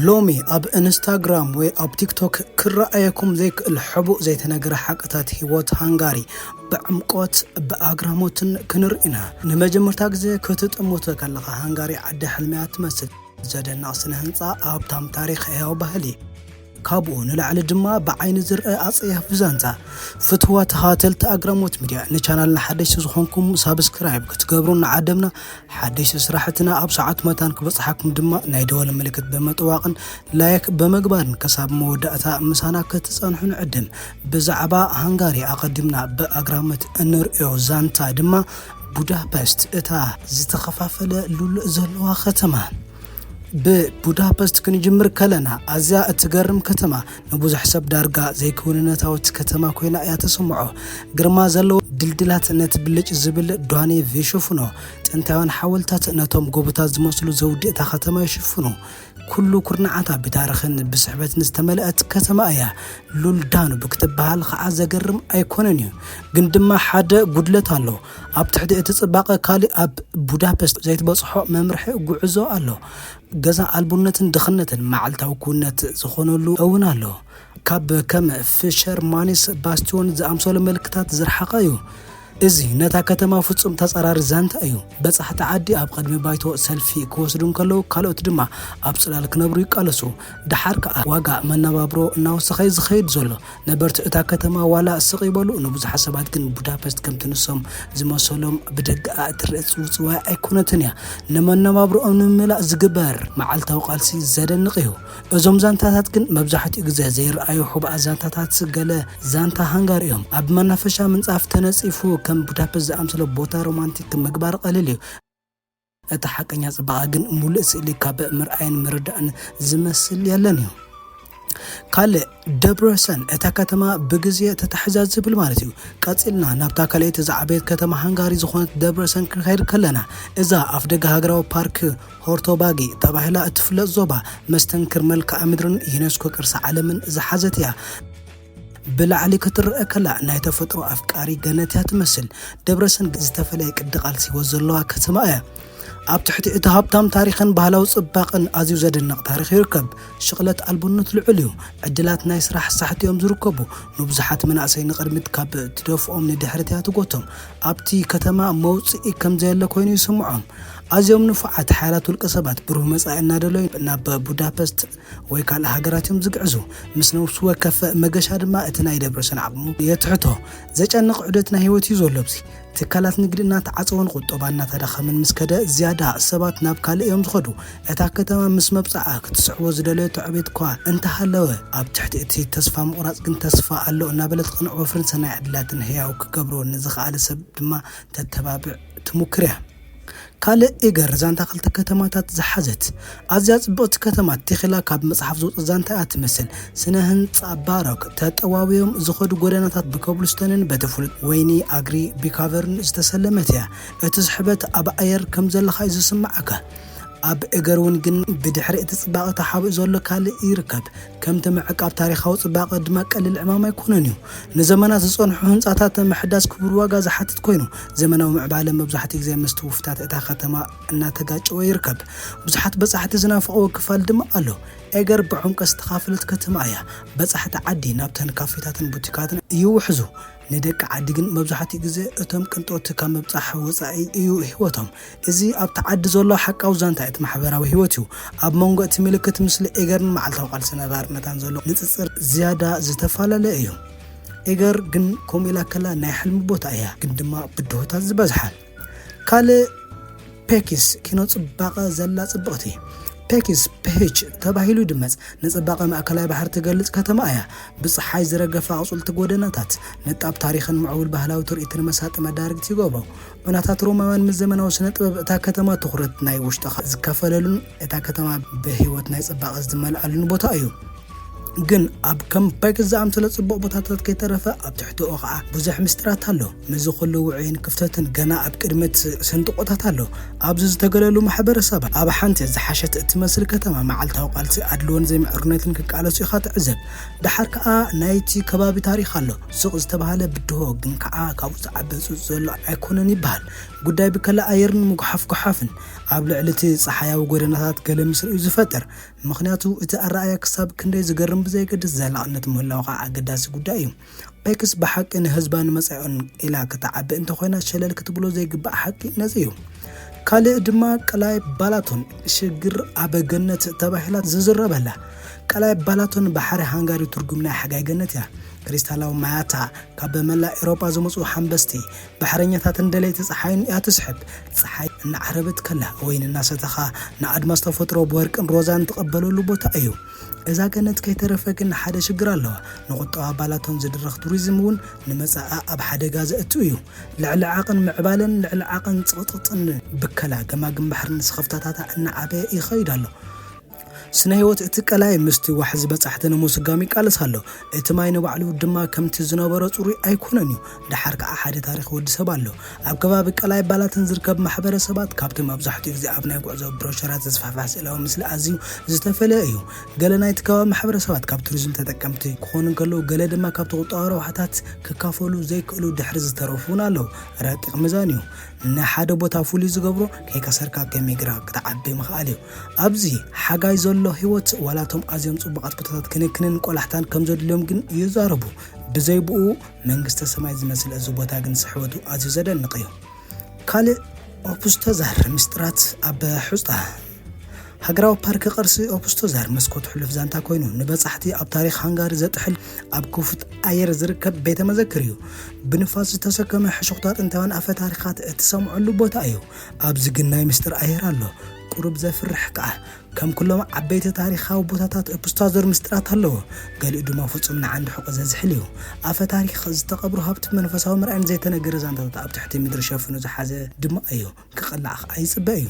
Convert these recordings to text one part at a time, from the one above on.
ሎሚ ኣብ እንስታግራም ወይ ኣብ ቲክቶክ ክረኣየኩም ዘይክእል ሕቡእ ዘይተነገረ ሓቅታት ህይወት ሃንጋሪ ብዕምቆት ብኣግራሞትን ክንርኢ ኢና። ንመጀመርታ ግዜ ክትጥምቶ ከለኻ ሃንጋሪ ዓዲ ሕልሚ እያ ትመስል። ዘደንቕ ስነ ህንጻ፣ ሃብታም ታሪኽ፣ ህያው ባህሊ። ካብኡ ንላዕሊ ድማ ብዓይኒ ዝርአ ኣጸያፊ ዛንታ። ፍትዋ ተኻተልቲ ኣግራሞት ሚድያ ንቻናልና ሓደሽቲ ዝኾንኩም ሳብስክራይብ ክትገብሩ እናዓደምና ሓደሽቲ ስራሕትና ኣብ ሰዓቱ መታን ክበጽሓኩም ድማ ናይ ደወል ምልክት ብምጥዋቕን ላይክ ብምግባርን ክሳብ መወዳእታ ምሳና ክትጸንሑ ንዕድም። ብዛዕባ ሃንጋሪ ኣቐዲምና ብኣግራሞት እንርእዮ ዛንታ ድማ ቡዳፐስት እታ ዝተኸፋፈለ ሉል ዘለዋ ከተማ ብቡዳፐስት ክንጅምር ከለና ኣዝያ እትገርም ከተማ ንብዙሕ ሰብ ዳርጋ ዘይክውንነታዊት ከተማ ኮይና እያ ተሰምዖ። ግርማ ዘለዎ ድልድላት ነቲ ብልጭ ዝብል ዳኔቭ ይሽፍኖ። ጥንታውያን ሓወልታት ነቶም ጎቦታት ዝመስሉ ዘውዲ እታ ከተማ ይሽፍኑ። ኩሉ ኩርናዓታ ብታሪኽን ብስሕበትን ዝተመልአት ከተማ እያ። ሉል ዳኑብ ክትበሃል ከዓ ዘገርም ኣይኮነን እዩ። ግን ድማ ሓደ ጉድለት ኣሎ። ኣብ ትሕቲ እቲ ጽባቐ ካልእ ኣብ ቡዳፐስት ዘይትበጽሖ መምርሒ ጉዕዞ ኣሎ። ገዛ ኣልቦነትን ድኽነትን መዓልታዊ ክውንነት ዝኾነሉ እውን ኣሎ። ካብ ከም ፍሸርማንስ ባስትዮን ዝኣምሰሉ ምልክታት ዝረሓቐ እዩ። እዚ ነታ ከተማ ፍጹም ተጻራሪ ዛንታ እዩ። በጻሕቲ ዓዲ ኣብ ቐድሚ ባይቶ ሰልፊ ክወስዱ እንከለዉ ካልኦት ድማ ኣብ ጽላል ክነብሩ ይቃለሱ። ደሓር ከኣ ዋጋ መነባብሮ እናወሰኸ'ዩ ዝኸይድ ዘሎ። ነበርቲ እታ ከተማ ዋላ ስቕ ይበሉ፣ ንብዙሓት ሰባት ግን ቡዳፐስት ከምቲ ንሶም ዝመሰሎም ብደገኣ እትረኣ ጽውጽዋይ ኣይኰነትን እያ። ንመነባብሮኦም ንምምላእ ዝግበር መዓልታዊ ቃልሲ ዘደንቕ እዩ። እዞም ዛንታታት ግን መብዛሕትኡ ግዜ ዘይረኣዩ ሕቡኣት ዛንታታት ገለ ዛንታ ሃንጋሪ እዮም። ኣብ መናፈሻ ምንጻፍ ተነጺፉ ከም ቡዳፐስት ዝኣመሰለ ቦታ ሮማንቲክ ምግባር ቀሊል እዩ። እቲ ሓቀኛ ጽባቐ ግን ሙሉእ ስእሊ ካብ ምርኣይን ምርዳእን ዝመስል የለን እዩ። ካልእ ደብረሰን እታ ከተማ ብግዜ ተታሕዛ ዝብል ማለት እዩ። ቀጺልና ናብታ ካልኣይቲ ዝዓበየት ከተማ ሃንጋሪ ዝኾነት ደብረሰን ክንኸይድ ከለና እዛ ኣፍ ደገ ሃገራዊ ፓርክ ሆርቶባጊ ተባሂላ እትፍለጥ ዞባ መስተንክር መልክዓ ምድርን ዩኔስኮ ቅርሲ ዓለምን ዝሓዘት እያ። ብላዕሊ ክትረኣ ከላ ናይ ተፈጥሮ ኣፍቃሪ ገነት እያ ትመስል። ደብረሰን ዝተፈለየ ቅዲ ቃልሲ ህይወት ዘለዋ ከተማ እያ። ኣብ ትሕቲ እቲ ሃብታም ታሪኽን ባህላዊ ጽባቕን ኣዝዩ ዘደንቕ ታሪኽ ይርከብ። ሽቕለት ኣልቦነት ልዑል እዩ። ዕድላት ናይ ስራሕ ሳሕቲ እዮም ዝርከቡ። ንብዙሓት መናእሰይ ንቕድሚት ካብ ትደፍኦም ንድሕሪት እያ ትጎቶም። ኣብቲ ከተማ መውጽኢ ከም ዘየለ ኮይኑ ይስምዖም። ኣዝዮም ንፉዓት ሓያላት ውልቀ ሰባት ብሩህ መጻኢ እናደለዩ ናብ ቡዳፐስት ወይ ካልእ ሃገራት እዮም ዝግዕዙ። ምስ ነብሱ ወከፍ መገሻ ድማ እቲ ናይ ደብረጽዮን ዓቕሙ የትሕቶ። ዘጨንቕ ዑደት ናይ ህይወት እዩ ዘሎ ኣብዚ። ትካላት ንግዲ እናተዓጸወን ቁጠባ እናተዳኸመን ምስ ከደ ዝያዳ ሰባት ናብ ካልእ እዮም ዝኸዱ። እታ ከተማ ምስ መብጽዓ ክትስዕቦ ዝደለየቶ ዕቤት'ኳ እንተሃለወ ኣብ ትሕቲ እቲ ተስፋ ምቑራጽ ግን ተስፋ ኣሎ እናበለ ትቐንዕ ወፍርን ሰናይ ዕድላትን ህያው ክገብሮ ንዝኸኣለ ሰብ ድማ ተተባብዕ ትሙክር እያ። ካልእ እገር ዛንታ ክልተ ከተማታት ዝሓዘት ኣዝያ ጽብቕቲ ከተማ ቴኺላ ካብ መጽሓፍ ዝወጸት ዛንታ እያ ትመስል። ስነ ህንጻ ባሮክ ተጠዋውዮም ዝኸዱ ጎደናታት ብኮብልስቶንን በቲ ፍሉጥ ወይኒ ኣግሪ ቢካቨርን ዝተሰለመት እያ። እቲ ስሕበት ኣብ ኣየር ከም ዘለኻ እዩ ዝስምዓካ። ኣብ እገር እውን ግን ብድሕሪ እቲ ጽባቐ ተሓቢኡ ዘሎ ካልእ ይርከብ። ከምቲ ምዕቃብ ታሪኻዊ ጽባቐ ድማ ቀሊል ዕማም ኣይኮነን እዩ። ንዘመናት ዝጸንሑ ህንጻታት ምሕዳስ ክቡር ዋጋ ዝሓትት ኮይኑ፣ ዘመናዊ ምዕባለ መብዛሕትኡ ግዜ ምስቲ ውፍታት እታ ከተማ እናተጋጨወ ይርከብ። ብዙሓት በጻሕቲ ዝናፍቕዎ ክፋል ድማ ኣሎ። ኤገር ብዕምቈት ዝተኻፈለት ከተማ እያ። በጻሕቲ ዓዲ ናብተን ካፌታትን ቡቲካትን ይውሕዙ። ንደቂ ዓዲ ግን መብዛሕትኡ ግዜ እቶም ቅንጦቲ ካብ ምብጻሕ ወጻኢ እዩ ህይወቶም። እዚ ኣብቲ ዓዲ ዘሎ ሓቃዊ ዛንታ እቲ ማሕበራዊ ህይወት እዩ። ኣብ መንጎ እቲ ምልክት ምስሊ ኤገርን መዓልታዊ ቃልሲ ነባሪ መታን ዘሎ ንጽጽር ዝያዳ ዝተፋላለየ እዩ። ኤገር ግን ከምኡ ኢላ ከላ ናይ ሕልሚ ቦታ እያ፣ ግን ድማ ብድሆታት ዝበዝሓን። ካልእ ፔኪስ ኪኖ ጽባቐ ዘላ ጽብቕቲ ፔኪስ ፔች ተባሂሉ ይድመጽ ንጽባቐ ማእከላይ ባሕሪ ትገልጽ ከተማ እያ። ብጸሓይ ዝረገፈ ኣቑጽልቲ ጎደናታት ንጣብ ታሪኽን ምዕቡል ባህላዊ ትርኢትን መሳጢ መዳርግቲ ይገብሮ። ዑናታት ሮማውያን ምስ ዘመናዊ ስነ ጥበብ እታ ከተማ ትኹረት ናይ ውሽጥኻ ዝካፈለሉን እታ ከተማ ብህይወት ናይ ጽባቐ ዝመልኣሉን ቦታ እዩ። ግን ኣብ ከም ፓይክስ ዝኣምሰለ ጽቡቕ ቦታታት ከይተረፈ ኣብ ትሕቲኡ ኸኣ ብዙሕ ምስጢራት ኣሎ። ምስዚ ኩሉ ውዑይን ክፍተትን ገና ኣብ ቅድሚት ስንጥቆታት ኣሎ። ኣብዚ ዝተገለሉ ማሕበረሰባት፣ ኣብ ሓንቲ ዝሓሸት እትመስል ከተማ መዓልታዊ ቃልሲ ኣድልዎን ዘይምዕሩነትን ክቃለሱ ኢኻ ትዕዘብ። ደሓር ከኣ ናይቲ ከባቢ ታሪኽ ኣሎ። ሱቕ ዝተባህለ ብድሆ ግን ከኣ ካብኡ ዝዓቢ ህጹጽ ዘሎ ኣይኮነን ይበሃል። ጉዳይ ብከላ ኣየርን ምጉሓፍ ጎሓፍን ኣብ ልዕሊቲ ጸሓያዊ ጎደናታት ገለ ምስሪ'ዩ ዝፈጥር። ምኽንያቱ እቲ ኣረኣእያ ክሳብ ክንደይ ዝገርም ብዘየገድስ ዘላቕነት ምህላዉ ከኣ ኣገዳሲ ጉዳይ'ዩ። ፔክስ ብሓቂ ንህዝባን መጻኢኡን ኢላ ክትዓቢ እንተኾይና ሸለል ክትብሎ ዘይግባእ ሓቂ ነዚ እዩ። ካልእ ድማ ቀላይ ባላቶን ሽግር ኣብ ገነት ተባሂላ ዝዝረበላ ቀላይ ባላቶን ባሕሪ ሃንጋሪ ትርጉም ናይ ሓጋይ ገነት እያ። ክሪስታላዊ ማያታ ካብ መላእ ኤሮጳ ዝመጹ ሓንበስቲ ባሕረኛታትን ደለይቲ ጸሓይን እያ ትስሕብ። ጸሓይ እናዓረበት ከላ ወይን እናሰተኻ ንኣድማስ ተፈጥሮ ብወርቅን ሮዛን ትቐበለሉ ቦታ እዩ። እዛ ገነት ከይተረፈ ግን ሓደ ሽግር ኣለዋ። ንቁጠባ ኣባላቶም ዝድርኽ ቱሪዝም እውን ንመጻኣ ኣብ ሓደጋ ዘእቱ እዩ። ልዕሊ ዓቕን ምዕባለን ልዕሊ ዓቕን ጽቕጥቕጥን ብከላ ገማግም ባሕርን ስኽፍታታታ እናዓበየ ይኸይድ ኣሎ። ስነ ህይወት እቲ ቀላይ ምስቲ ዋሕዚ በጻሕቲ ንምስጓም ይቃለስ ኣሎ። እቲ ማይ ንባዕሉ ድማ ከምቲ ዝነበሮ ጽሩይ ኣይኮነን እዩ። ደሓር ከኣ ሓደ ታሪኽ ወዲ ሰብ ኣሎ። ኣብ ከባቢ ቀላይ ባላትን ዝርከብ ማሕበረሰባት ካብቲ መብዛሕትኡ ግዜ ኣብ ናይ ጉዕዞ ብሮሸራት ዝስፋሕፋሕ ስእላዊ ምስሊ ኣዝዩ ዝተፈልየ እዩ። ገለ ናይቲ ከባቢ ማሕበረሰባት ካብ ቱሪዝም ተጠቀምቲ ክኾኑ እንከለዉ ገለ ድማ ካብቲ ቁጠባዊ ረብሓታት ክካፈሉ ዘይክእሉ ድሕሪ ዝተረፉ እውን ኣለዉ። ረቂቕ ሚዛን እዩ። ንሓደ ቦታ ፍሉይ ዝገብሮ ከይከሰርካ ከም ይግራ ክትዓቢ ምኽኣል እዩ። ኣብዚ ሓጋይ ዘሎ ህይወት ዋላ እቶም ኣዝዮም ጽቡቓት ቦታታት ክንክንን ቆላሕታን ከም ዘድልዮም ግን ይዛረቡ። ብዘይ ብኡ መንግስተ ሰማይ ዝመስል እዚ ቦታ ግን ስሕበቱ ኣዝዩ ዘደንቕ እዩ። ካልእ ኦፑስቶዛር ምስጢራት ኣብ ሑጻ ሃገራዊ ፓርክ ቅርሲ ኦፑስቶዛር መስኮት ሕሉፍ ዛንታ ኮይኑ ንበጻሕቲ ኣብ ታሪኽ ሃንጋሪ ዘጥሕል ኣብ ክፉት ኣየር ዝርከብ ቤተ መዘክር እዩ። ብንፋስ ዝተሰከመ ሕሹኽታ ጥንታውያን ኣፈ ታሪኻት እትሰምዐሉ ቦታ እዩ። ኣብዚ ግን ናይ ምስጢር ኣየር ኣሎ። ቁሩብ ዘፍርሕ ከኣ። ከም ኩሎም ዓበይቲ ታሪኻዊ ቦታታት እፕስታዞር ምስጢራት ኣለዎ፣ ገሊኡ ድማ ፍጹም ንዓንዲ ሕቖ ዘዝሕል እዩ። ኣፈ ታሪኽ፣ ዝተቐብሩ ሃብቲ መንፈሳዊ መርኣይን ዘይተነገረ ዛንታታት ኣብ ትሕቲ ምድሪ ሸፊኑ ዝሓዘ ድማ እዩ። ክቕላዕ ኸኣ ይጽበ እዩ።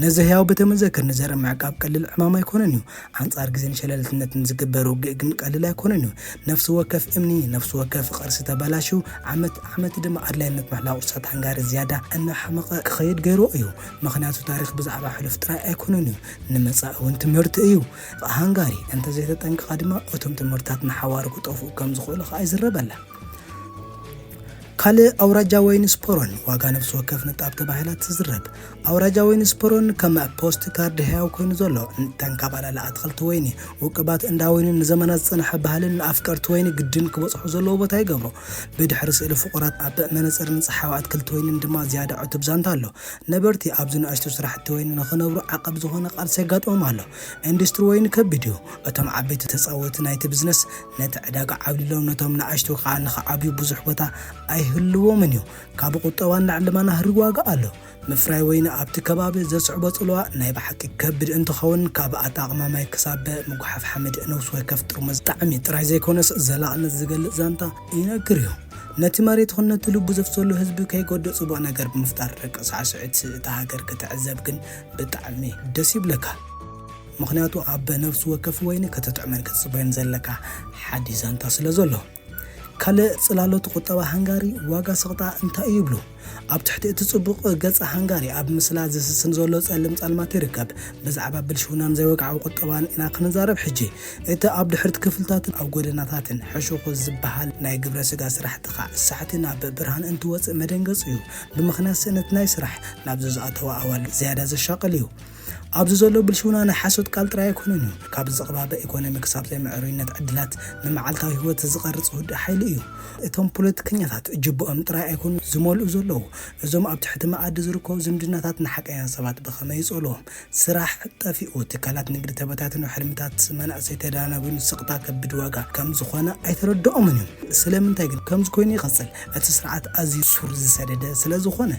ነዚ ህያው ቤተ መዘክር ንዘርኢ ምዕቃብ ቀሊል ዕማም ኣይኮነን እዩ። ኣንጻር ግዜን ሸለልትነትን ዝግበር ውግእ ግን ቀሊል ኣይኮነን እዩ። ነፍሲ ወከፍ እምኒ፣ ነፍሲ ወከፍ ቕርሲ ተበላሽዩ፣ ዓመት ዓመት ድማ ኣድላይነት ምሕላው ቕርሳት ሃንጋሪ ዝያዳ እናሓመቐ ክኸይድ ገይርዎ እዩ። ምኽንያቱ ታሪኽ ብዛዕባ ሕሉፍ ጥራይ ኣይኮነን እዩ፣ ንመጻኢ እውን ትምህርቲ እዩ። ሃንጋሪ እንተ ዘይተጠንቂቓ ድማ እቶም ትምህርትታት ንሓዋሩ ክጠፍኡ ከም ዝኽእሉ ኸኣ ይዝረበላ። ካልእ ኣውራጃ ወይኒ ስፖሮን፣ ዋጋ ነፍሲ ወከፍ ንጣብ ተባሂላ ትዝረብ። ኣውራጃ ወይኒ ስፖሮን ከም ፖስት ካርድ ህያው ኮይኑ ዘሎ፣ ንተን ካብ ኣላሊ ኣትኽልቲ ወይኒ፣ ውቅባት እንዳ ወይንን ንዘመናት ዝጸንሐ ባህልን ንኣፍቀርቲ ወይኒ ግድን ክበጽሑ ዘለዎ ቦታ ይገብሮ። ብድሕሪ ስእሊ ፍቑራት ኣብ መነጽርን ጸሓያዊ ኣትክልቲ ወይንን ድማ ዝያዳ ዕቱብ ዛንታ ኣሎ። ነበርቲ ኣብዚ ንኣሽቱ ስራሕቲ ወይኒ ንኽነብሩ ዓቐብ ዝኾነ ቃልሲ የጋጥሞም ኣሎ። ኢንዱስትሪ ወይኒ ከቢድ እዩ። እቶም ዓበይቲ ተጻወቲ ናይቲ ብዝነስ ነቲ ዕዳጋ ዓብሊሎም ነቶም ንኣሽቱ ከኣ ንኽዓብዩ ብዙሕ ቦታ ኣይህልዎምን እዩ። ካብ ቁጠባ ንላዕሊ ድማ ናህሪ ዋጋ ኣሎ። ምፍራይ ወይኒ ኣብቲ ከባቢ ዘስዕቦ ጽልዋ ናይ ብሓቂ ከቢድ እንትኸውን ካብ ኣጠቓቕማ ማይ ክሳብ ምጉሓፍ ሓመድ፣ ንውስ ወከፍ ጥርሙዝ ጣዕሚ ጥራይ ዘይኮነስ ዘላቕነት ዝገልጽ ዛንታ፣ ይነግር እዩ። ነቲ መሬት ይኹን ነቲ ልቡ ዘፍሰሉ ህዝቢ ከይጎድእ ጽቡቕ ነገር ብምፍጣር ደቂ ሳዕስዒት እታ ሃገር ክትዕዘብ ግን ብጣዕሚ ደስ ይብለካ። ምኽንያቱ ኣብ ነፍሲ ወከፍ ወይኒ ክትጥዕመን ክትጽበዮን ዘለካ ሓዲስ ዛንታ ስለ ዘሎ። ካልእ ጽላሎት ቁጠባ ሃንጋሪ ዋጋ ስቕታ እንታይ እዩ ይብሉ? ኣብ ትሕቲ እቲ ጽቡቕ ገጽ ሃንጋሪ ኣብ ምስላ ዝስስን ዘሎ ጸልም ጸልማት ይርከብ። ብዛዕባ ብልሽውናን ዘይወግዓዊ ቁጠባን ኢና ክንዛረብ ሕጂ። እቲ ኣብ ድሕሪት ክፍልታትን ኣብ ጎደናታትን ሕሹኹ ዝበሃል ናይ ግብረ ስጋ ስራሕቲ ክሳዕ ሳዕቲ ናብ ብርሃን እንትወጽእ መደንገጽ እዩ። ብምኽንያት ስእነት ናይ ስራሕ ናብዚ ዝኣተዋ ኣዋልድ ዝያዳ ዘሻቕል እዩ። ኣብዚ ዘሎ ብልሽውና ናይ ሓሶት ቃል ጥራይ ኣይኮነን እዩ። ካብ ዝቕባበ ኤኮኖሚ ክሳብ ዘይምዕሩይነት ዕድላት ንመዓልታዊ ህይወት ዝቐርጽ ውዱእ ሓይሊ እዩ። እቶም ፖለቲከኛታት ጅብኦም ጥራይ ኣይኮኑን ዝመልኡ ዘለዉ፣ እዞም ኣብ ትሕቲ መኣዲ ዝርከቡ ዝምድናታት ንሓቀኛ ሰባት ብኸመይ ይጸልዎም? ስራሕ ጠፊኡ፣ ትካላት ንግዲ ተበታቲኑ፣ ሕልምታት መናእሰይ ተዳናጒኑ ስቕታ ከቢድ ዋጋ ከም ዝኾነ ኣይተረድኦምን እዩ። ስለምንታይ ግን ከምዚ ኮይኑ ይቕጽል? እቲ ስርዓት ኣዝዩ ሱር ዝሰደደ ስለ ዝኾነ።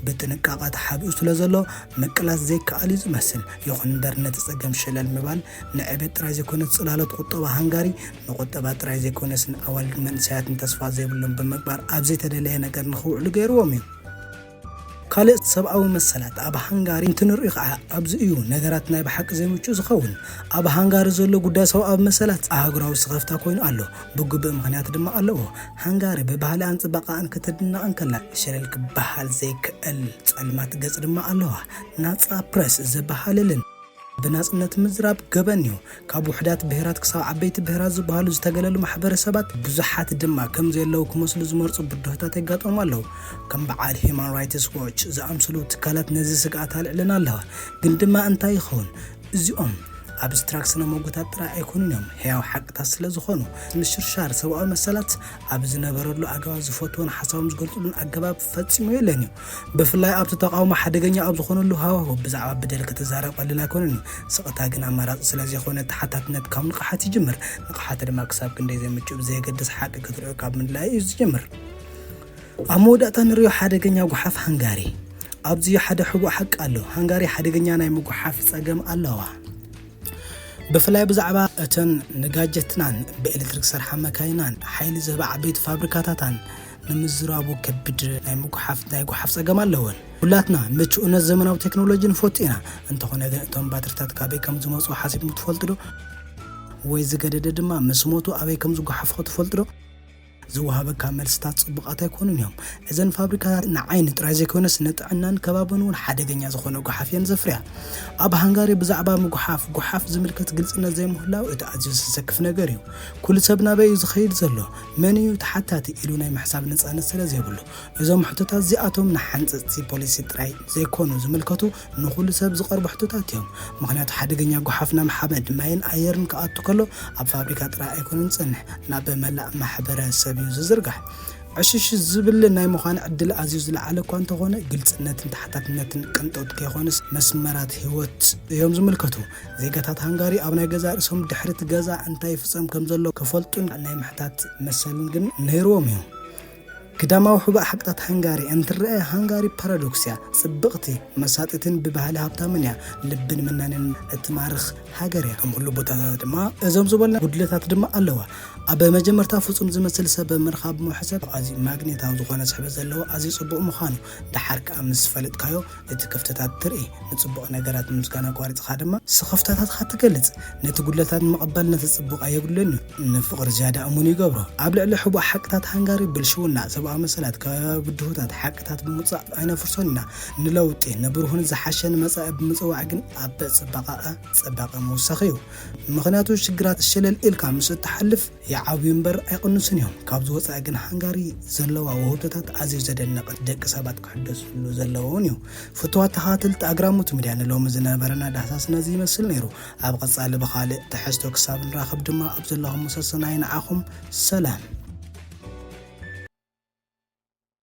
ብጥንቃቐ ተሓቢኡ ስለ ዘሎ ምቅላስ ዘይከኣል እዩ ዝመስል። ይኹን እምበር ነቲ ጸገም ሸለል ምባል ንዕቤት ጥራይ ዘይኮነስ ጽላሎት ቁጠባ ሃንጋሪ ንቁጠባ ጥራይ ዘይኮነስ ንኣዋልድን መንእሰያትን ተስፋ ዘይብሎም ብምግባር ኣብ ዘይተደለየ ነገር ንኽውዕሉ ገይርዎም እዩ። ካልእ ሰብኣዊ መሰላት ኣብ ሃንጋሪ እንትንርኢ ከዓ ኣብዚ እዩ ነገራት ናይ ብሓቂ ዘይምቹእ ዝኸውን። ኣብ ሃንጋሪ ዘሎ ጉዳይ ሰብኣዊ መሰላት ኣህጉራዊ ስኸፍታ ኮይኑ ኣሎ። ብግቡእ ምኽንያት ድማ ኣለዎ። ሃንጋሪ ብባህልኣን ጽባቐኣን ክትድነቕ እንከላ ሸለል ክበሃል ዘይከእል ጸልማት ገጽ ድማ ኣለዋ። ናጻ ፕረስ ዘበሃልልን ብናጽነት ምዝራብ ገበን'ዩ። ካብ ውሑዳት ብሄራት ክሳብ ዓበይቲ ብሄራት ዝበሃሉ ዝተገለሉ ማሕበረሰባት ብዙሓት ድማ ከም ዘየለዉ ክመስሉ ዝመርጹ ብድሆታት የጋጥሞም ኣለዉ። ከም በዓል ሂዩማን ራይትስ ዎች ዝኣምሰሉ ትካላት ነዚ ስግኣት ኣልዒለን ኣለዋ። ግን ድማ እንታይ ይኸውን? እዚኦም ኣብስትራክት ስነ-ሞጎታት ጥራይ ኣይኮኑን እዮም፣ ሕያው ሓቅታት ስለ ዝኾኑ። ምሽርሻር ሰብኣዊ መሰላት ኣብ ዝነበረሉ ኣገባብ ዝፈትዎን ሓሳቦም ዝገልጽሉን ኣገባብ ፈጺሙ የለን እዩ። ብፍላይ ኣብቲ ተቓውሞ ሓደገኛ ኣብ ዝኾነሉ ሃዋህው ብዛዕባ በደል ክትዛረብ ቀሊል ኣይኮነን እዩ። ስቕታ ግን ኣማራጺ ስለ ዘይኮነ ተሓታትነት ካብ ንቕሓት ይጅምር። ንቕሓት ድማ ክሳብ ክንደይ ዘይምቹእ ብዘየገድስ ሓቂ ክትሪኦ ካብ ምድላይ እዩ ዝጅምር። ኣብ መወዳእታ ንሪኦ ሓደገኛ ጉሓፍ ሃንጋሪ። ኣብዚ ሓደ ሕቡእ ሓቂ ኣሎ፣ ሃንጋሪ ሓደገኛ ናይ ምጉሓፍ ጸገም ኣለዋ። ብፍላይ ብዛዕባ እተን ንጋጀትናን ብኤሌክትሪክ ዝሰርሓ መካይናን ሓይሊ ዝህባ ዓበይቲ ፋብሪካታታን ንምዝራቡ ከቢድ ናይ ምጉሓፍ ናይ ጉሓፍ ጸገም ኣለወን። ኩላትና ምቹእነት ዘመናዊ ቴክኖሎጂ ንፈቱ ኢና፣ እንተኾነ ግን እቶም ባትሪታት ካበይ ከም ዝመጹ ሓሲብኩም ትፈልጡ ዶ? ወይ ዝገደደ ድማ ምስ ሞቱ ኣበይ ከም ዝጉሓፉ ኸ ትፈልጡ ዶ? ዝወሃበካ መልስታት ጽቡቓት ኣይኮኑን እዮም። እዘን ፋብሪካታት ንዓይኒ ጥራይ ዘይኮነስ ንጥዕናን ከባብን እውን ሓደገኛ ዝኾነ ጉሓፍ እየን ዘፍርያ። ኣብ ሃንጋሪ ብዛዕባ ምጉሓፍ ጉሓፍ ዝምልከት ግልጽነት ዘይምህላው እቲ ኣዝዩ ዘሰክፍ ነገር እዩ። ኩሉ ሰብ ናበይ እዩ ዝኸይድ ዘሎ፣ መን እዩ ተሓታቲ ኢሉ ናይ ምሕሳብ ነጻነት ስለ ዘይብሉ። እዞም ሕቶታት እዚኣቶም ንሓንጸጽቲ ፖሊሲ ጥራይ ዘይኮኑ ዝምልከቱ ንኹሉ ሰብ ዝቐርቡ ሕቶታት እዮም። ምኽንያቱ ሓደገኛ ጎሓፍ ናብ ሓመድ፣ ማይን ኣየርን ክኣቱ ከሎ ኣብ ፋብሪካ ጥራይ ኣይኮነን ዝጸንሕ፣ ናብ መላእ ማሕበረ ሰብ'ዩ ዝዝርጋሕ። ዕሽሽ ዝብል ናይ ምዃን ዕድል ኣዝዩ ዝለዓለ እኳ እንተኾነ፣ ግልጽነትን ተሓታትነትን ቅንጦት ከይኮኑስ መስመራት ህይወት እዮም ዝምልከቱ። ዜጋታት ሃንጋሪ ኣብ ናይ ገዛእ ርእሶም ድሕሪ'ቲ ገዛ እንታይ ይፍጸም ከም ዘሎ ክፈልጡን ናይ ምሕታት መሰልን ግን ነይርዎም'ዩ። ግዳማዊ ሕቡእ ሓቅታት ሃንጋሪ እንትረኣ ሃንጋሪ ፓራዶክስ እያ፣ ጽብቕቲ፣ መሳጢትን ብባህሊ ሃብታምን እያ፣ ልብን መናንያን እትማርኽ ሃገር እያ። ከም ኩሉ ቦታታት ድማ እዞም ዝበልና ጉድለታት ድማ ኣለዋ። ኣብ መጀመርታ ፍጹም ዝመስል ሰብ ምርኻብ ምሕሰብ ኣዝዩ ማግኔታዊ ዝኾነ ስሕበት ዘለዎ ኣዝዩ ጽቡቕ ምዃኑ፣ ደሓር ከኣ ምስ ፈለጥካዮ፣ እቲ ክፍተታት ትርኢ፣ ንጽቡቕ ነገራት ምምስጋን ኣቋሪጽኻ ድማ ስኽፍታታትካ ትገልጽ። ነቲ ጉድለታት ንምቕባል ነቲ ጽቡቕ ኣየጉድሎን እዩ፣ ንፍቕሪ ዝያዳ እሙን ይገብሮ። ኣብ ልዕሊ ሕቡእ ሓቅታት ሃንጋሪ፣ ብልሽውና፣ ሰብኣዊ መሰላት፣ ከባብያዊ ብድሆታት፣ ሓቅታት ብምውጻእ ኣይነፍርሶን ኢና። ንለውጢ፣ ንብሩህን ዝሓሸን መጻኢ ብምጽዋዕ ግን ኣብ ጽባቐኣ ጽባቐ ምውሳኽ እዩ። ምኽንያቱ ሽግራት ሸለል ኢልካ ምስ እትሓልፍ፣ ይዓብዩ እምበር ኣይቕንሱን እዮም። ካብዚ ወጻኢ ግን ሃንጋሪ ዘለዋ ውህብቶታት ኣዝዩ ዘደንቕ ደቂ ሰባት ክሕደስሉ ዘለዎ'ውን እዩ። ፍቱዋት ተኸታተልቲ ኣግራሞት ሚድያ ንሎሚ ዝነበረና ዳህሳስ ነዚ ይመስል ነይሩ። ኣብ ቐጻሊ ብኻልእ ትሕዝቶ ክሳብ ንራኸብ ድማ ኣብ ዘለኹሞ ሰሰናዩ ንዓኹም ሰላም።